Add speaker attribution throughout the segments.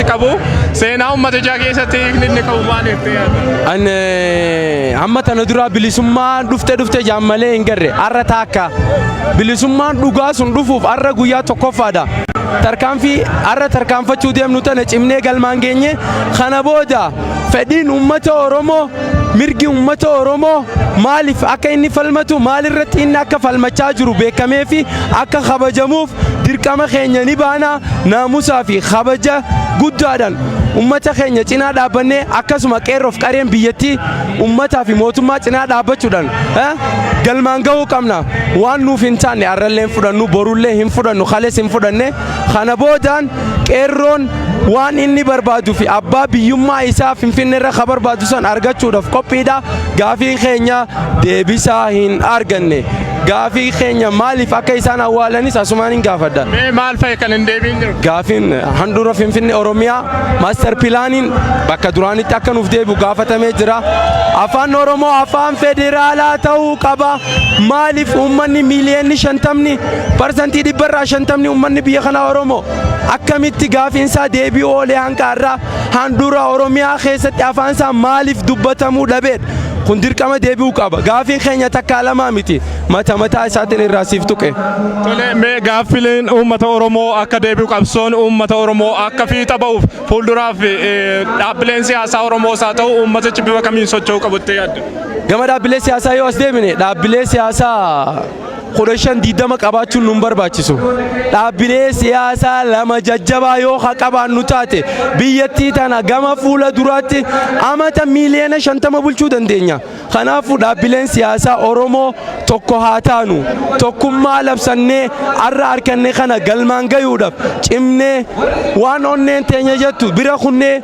Speaker 1: qabu seenaa uummata ijaa keessatti hiikni inni qabu maal jettee yaadda? An eh,
Speaker 2: amma tana duraa bilisummaan dhufte dhufte jaan malee hin garre arra taakka bilisummaan dhugaa sun dhufuuf arra guyyaa tokkoffaadha. Tarkaanfii arra tarkaanfachuu deemnu tana cimnee galmaan geenye kana booda fedhiin uummata Oromoo mirgi ummata Oromoo maaliif akka inni falmatu maalirratti inni akka falmachaa jiru beekamee fi akka kabajamuuf dirqama keenya ni baana naamusaa fi kabaja guddaadhaan ummata keenya cinaa dhaabbannee akkasuma qeerroof qareen biyyattii ummataa fi mootummaa cinaa dhaabbachuudhaan eh, galmaan gahuu qabna waan nuuf hin taanne arrallee hin fudhannu borullee hin fudhannu kalees hin fudhanne Kana boodaan qeerroon waan inni barbaadu fi abbaa biyyummaa isaa Finfinnee irra ka barbaadu san argachuudhaaf qophiidha. Gaafii keenya deebisaa hin arganne. Gaafii keenya maaliif akka isaan awwaalanis asumaan hin gaafadha. Mee maal fa'i kan hin
Speaker 1: deebiin jiru? Gaafiin handhuura
Speaker 2: Finfinnee Oromiyaa maaster pilaaniin bakka duraanitti akka nuuf deebi'u gaafatamee jira. Afaan Oromoo afaan federaalaa ta'uu qaba. Maaliif uummanni miiliyoonni shantamni parsantii dhibba irraa shantamni uummanni biyya kanaa Oromoo akkamitti gaafiinsaa deebi'uu oolee hanqa har'aa handhuura Oromiyaa keessatti afaansaa maaliif dubbatamuu dhabeedha. Kun dirqama deebi'uu qaba. Gaafiin keenya takkaa lamaa miti mata mataa isaatiin irraa siif tuqe. Tole mee
Speaker 1: gaaffileen uummata Oromoo akka deebi'u qabsoon uummata Oromoo akka fiixa ba'uuf fuulduraaf dhaabbileen siyaasaa Oromoos haa ta'u uummatichi bifa kamiin socho'uu qabu jettee yaadda? Gama dhaabbilee
Speaker 2: siyaasaa yoo as deebine dhaabbilee siyaasaa kudha shan diidama qabaachuun nun barbaachisu. Dhaabbilee siyaasaa lama jajjabaa yoo ha qabaannu taate biyyattii tana gama fuula duraatti amata miiliyoona shantama bulchuu dandeenya. Kanaafuu dhaabbileen siyaasaa Oromoo tokko haa taanu tokkummaa labsannee har'a arkanne kana galmaan gayuudhaaf cimnee waan onneen teenya jettu bira kunnee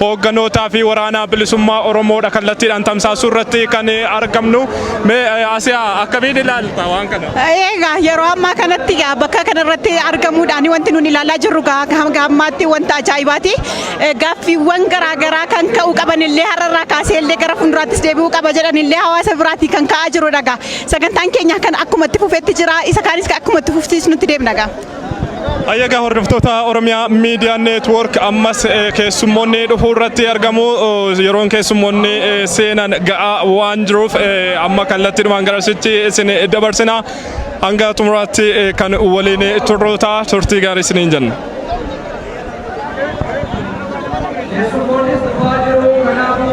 Speaker 1: Hoogganootaa fi waraana bilisummaa Oromoodha kallattiidhaan tamsaasuu irratti kan argamnu. Mee eh, Asiyaa akkamiin ilaalta waan kana? Egaa yeroo ammaa
Speaker 3: kanatti egaa bakka kanarratti argamuudhaan wanti nuti ilaalaa jirru egaa hanga ammaatti wanta ajaa'ibaati. Eh, Gaaffiiwwan garaagaraa kan ka'uu qaban illee har'arraa kaasee illee gara fuulduraattis deebi'uu qaba jedhan illee hawaasa biraatii kan ka'aa jirudha egaa. Sagantaan keenya kan akkuma itti fufetti jira isa kaanis kan akkuma itti fufsiisnutti deemna egaa. Ayyaga
Speaker 1: hordoftoota Oromiyaa Miidiyaa Neetwoork ammas eh, keessummoonni dhufuu irratti argamu. Eh, Yeroon keessummoonni eh, seenan ga'aa waan jiruuf eh, amma kallattiidhumaan garasitti isin dabarsina. Hanga xumuraatti eh, kan waliin turru ta'a. Turtii gaarii isiniin jenna. Yesuus Kiristoos dhufaa jiru kanaafuu